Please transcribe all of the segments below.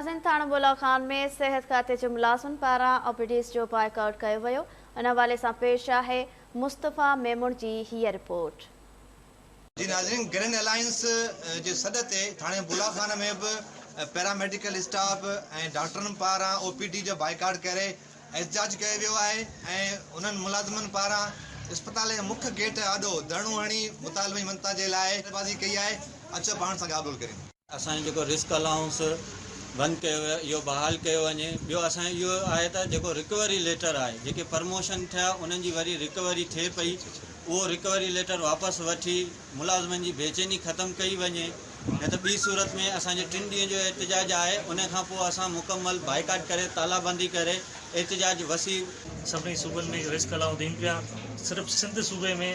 ملازم ٿاڻو بولا خان ۾ صحت کاتي جي ملازمن پاران او پي ڊيز جو بائيڪاٽ ڪيو ويو، ان حوالي سان پيش آهي مصطفيٰ ميمڻ جي هيء رپورٽ. جي ناظرين گرينڊ الائنس جي سڏ تي ٿاڻي بولا خان ۾ به پيراميڊيڪل اسٽاف ۽ ڊاڪٽرن پاران او پي ڊي جو بائيڪاٽ ڪري احتجاج ڪيو ويو آهي ۽ انهن ملازمن پاران اسپتال جي مک گيٽ آڏو ڌرڻو هڻي مطالبن جي مڃتا جي لاء نعريبازي ڪئي آهي اچو پاڻ سان ڳالهه ٻولهه ڪريون. اسان جو جيڪو رسڪ الائونس بند ڪيو ويو آهي اهو بحال ڪيو وڃي ٻيو اسان جو اهو آهي ته جيڪو رڪوري ليٽر آهي جيڪي پرموشن ٿيا انهن جي وري رڪوري ٿئي پئي اهو رڪوري ليٽر واپس وٺي ملازمن جي بيچيني ختم ڪئي وڃي نه ته ٻي صورت ۾ اسان جو ٽن ڏينهن جو احتجاج آهي ان کان پوء اسان مڪمل بائيڪاٽ ڪري تالابندي ڪري احتجاج وسيع سڀني صوبن ۾ رسڪ الائونس ڏين پيا صرف سنڌ صوبي ۾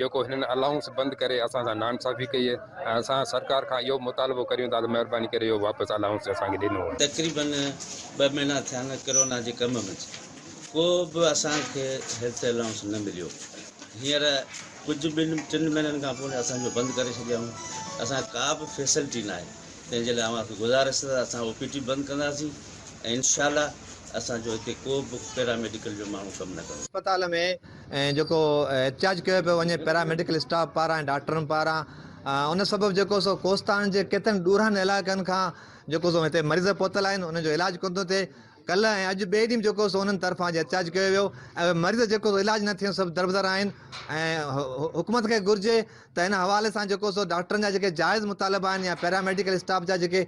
جيڪو هنن الائونس بند ڪري اسان سان ناانصافي ڪئي ۽ اسان سرڪار کان اهو مطالبو ڪريون ٿا ته مهرباني ڪري اهو واپس الائونس اسان کي ڏنو وڃي. تقريبن ٻه مهينا ٿيا آهن ڪرونا جي ڪم منجھ ڪو به اسان کي هيلٿ الائونس نه مليو هينئر ڪجھ ٻن ٽن مهينن کان پوء اسان جو بند ڪري ڇڏيائون اسان کي ڪا به فيسلٽي ناهي تنهن جي لاء اوهان کي گذارش ته اسان او پي ٽي بند ڪنداسين ۽ انشاء الله اسان جو هتي ڪو به پيرا ميڊيڪل جو ماڻهو ڪم نه ڪندو. اسپتال ۾ ۽ جيڪو احتجاج ڪيو پيو وڃي پيراميڊيڪل اسٽاف پاران ۽ ڊاڪٽرن پاران ان سبب جيڪو سو ڪوستان جي ڪيترن ڏورن علائقن کان جيڪو سو هتي مريض پهتل آهن انهن جو علاج ڪونه ٿو ٿئي ڪلهه ۽ اڄ ٻئي ڏينهن جيڪو سو انهن طرفان جي احتجاج ڪيو ويو ۽ مريض جيڪو سو علاج نه ٿيڻ سبب دربدر آهن ۽ حڪومت کي گهرجي ته ان حوالي سان جيڪو سو ڊاڪٽرن جا جيڪي جائز مطالبا آهن يا پيراميڊيڪل اسٽاف جا جيڪي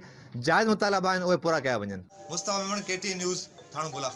جائز مطالبا آهن اهي پورا ڪيا وڃن Mustafa Memon K T N news Thano بلا